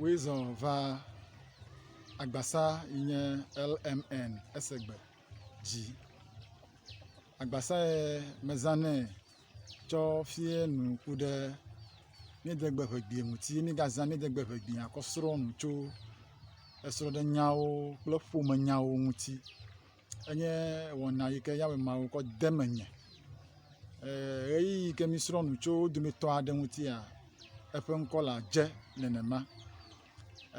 Woezɔ va agbasa yi nye LMN ese gbe dzi. Agbasa ye mezanɛ tsɔ fiɛ nu ku ɖe míede gbe ŋegbea ŋuti ye mígazã míede gbe ŋegbea kɔ srɔ̃ nu tso esrɔ̃ɖenyawo kple ƒomenyawo ŋuti. Enye wɔna yi ke Yehowa Mawu kɔ de menye. Ɣeyiɣi yi ke mísrɔ̃ nu tso wo dometɔ aɖe ŋutia, eƒe ŋkɔ le Adze nenema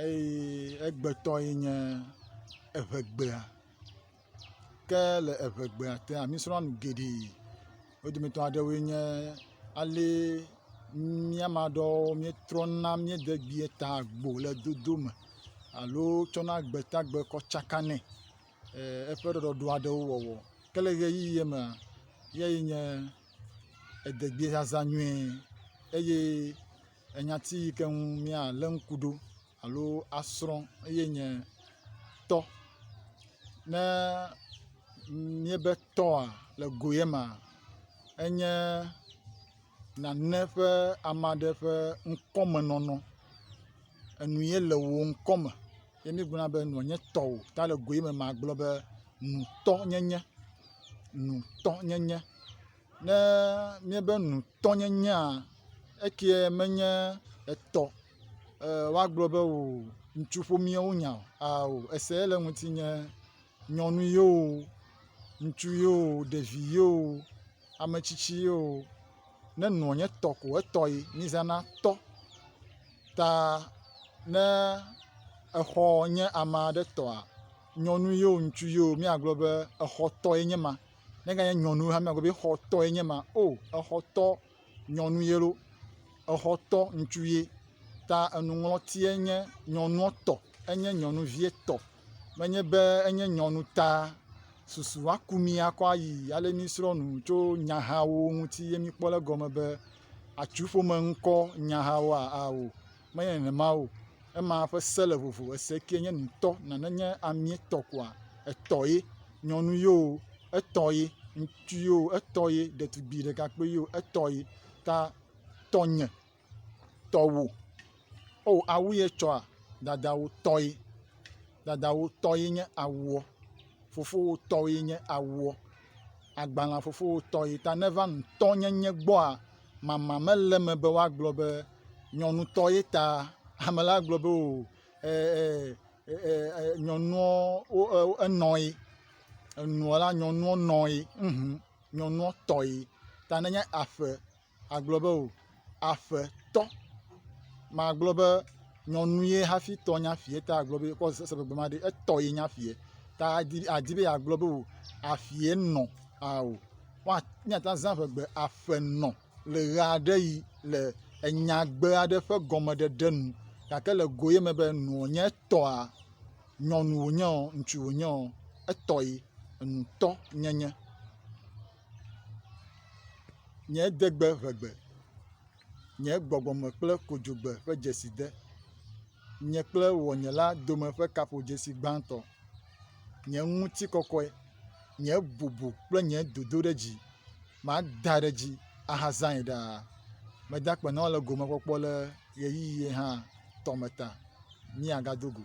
eye egbetɔ ye nye Eŋegbea. Ke le Eŋegbea tea, mísrɔ̃a nu geɖe. Wo dometɔ aɖewoe nye, ale mía ame aɖewo míetrɔna míede gbeata gbo le dodo me alo tsɔna gbeata gbe kɔ tsakanɛ. eƒe ɖɔɖɔɖo aɖewo wɔwɔ. Ke le ʋeyiʋi ye mea, eyae nye edegbezazã nyuie eye enyati yi ke ŋu míalé ŋku ɖo alo asrɔ̃ eye nye tɔ. Ne míebe tɔa le go ye mea, enye nane ƒe ame aɖe ƒe ŋkɔmenɔnɔ, enu ye le wò ŋkɔme. Ye míegblɔna be nua nye tɔwò. Ta le goe me magblɔ be nutɔnyenye, nutɔnyenye. Ne míebe nutɔnyenyea, ekie menye etɔ e woagblɔ be o ŋutsu ƒomea wonya o ao ese le ŋutinye. nyɔnu ye o, ŋutsu ye o, ɖevi ye o, ame tsitsi ye o, ne nɔ nye tɔ ko etɔ ye mizana tɔ ta ne exɔ nye ame aɖe tɔa, nyɔnu ye o, ŋutsu ye o míagblɔ be exɔtɔ ye nye ma, ne ganye nyɔnu hã míagblɔ be exɔtɔ ye nye ma, o exɔtɔ nyɔnu ye loo, exɔtɔ ŋutsu ye ta enuŋlɔti enye nyɔnua tɔ enye nyɔnuvie tɔ. menye be enye nyɔnu ta susu aku mí akɔ ayi ale míesrɔ̃ nu tso nyahawo ŋuti ye míekpɔ le egɔme be atsu ƒome ŋkɔ nyahawoa? Ao, menye nenema o. Ema ƒe se le vovo. Ese kee nye nutɔ. Nane nye amee tɔ koa, etɔ ye. Nyɔnu ye o, etɔ ye. Ŋutsu ye o, etɔ ye. Ɖetugbui ɖekakpui ye o, etɔ ye. Ta tɔnye. tɔwo. O awu ye etsɔa? Dadawo tɔe. Dadawo tɔ ye nye awuɔ. Fofowo tɔ ye nye awuɔ. Agbalẽ fofowo tɔ ye. Ta ne va ŋutɔnyenye gbɔa, mama mele eme be woagblɔ be nyɔnutɔ ye ta. Ame la agblɔ be o ɛɛɛɛ ɛɛɛɛ nyɔnuɔ wo e wo enɔ ye. Enuɔ la, nyɔnuɔ nɔ ye. Ŋhum, nyɔnuɔ tɔ ye. Ta ne nye aƒe. agblɔ be o, aƒetɔ. Magblɔ be nyɔnu ye hafi tɔ nye aƒee ta agblɔ be ekɔ se be gbema ɖe etɔ ye nye aƒee ta adi adi be yeagblɔ be o aƒee nɔ ao. Woa míate ŋu azã ŋegbe aƒenɔ le ʋe aɖe ʋi le enyagbe aɖe ƒe gɔmeɖeɖe nu gake le go ye me be nɔa nye etɔa nyɔnu wònye o ŋutsu wònye o etɔ ye enutɔ nyenye. Nye degbe ʋe gbe. Nye gbɔgbɔme kple kodzogbe ƒe dzesi de. Nye kple wɔnyela dome ƒe kaƒodzesi gbãtɔ. Nye ŋutikɔkɔe. Nye bubu kple nye dodoɖedzi. Mada ɖe dzi ahazãe ɖaa. Meda akpe na wò le gomekpɔkpɔ le ʋeyiʋi hã tɔme ta. Míagado go.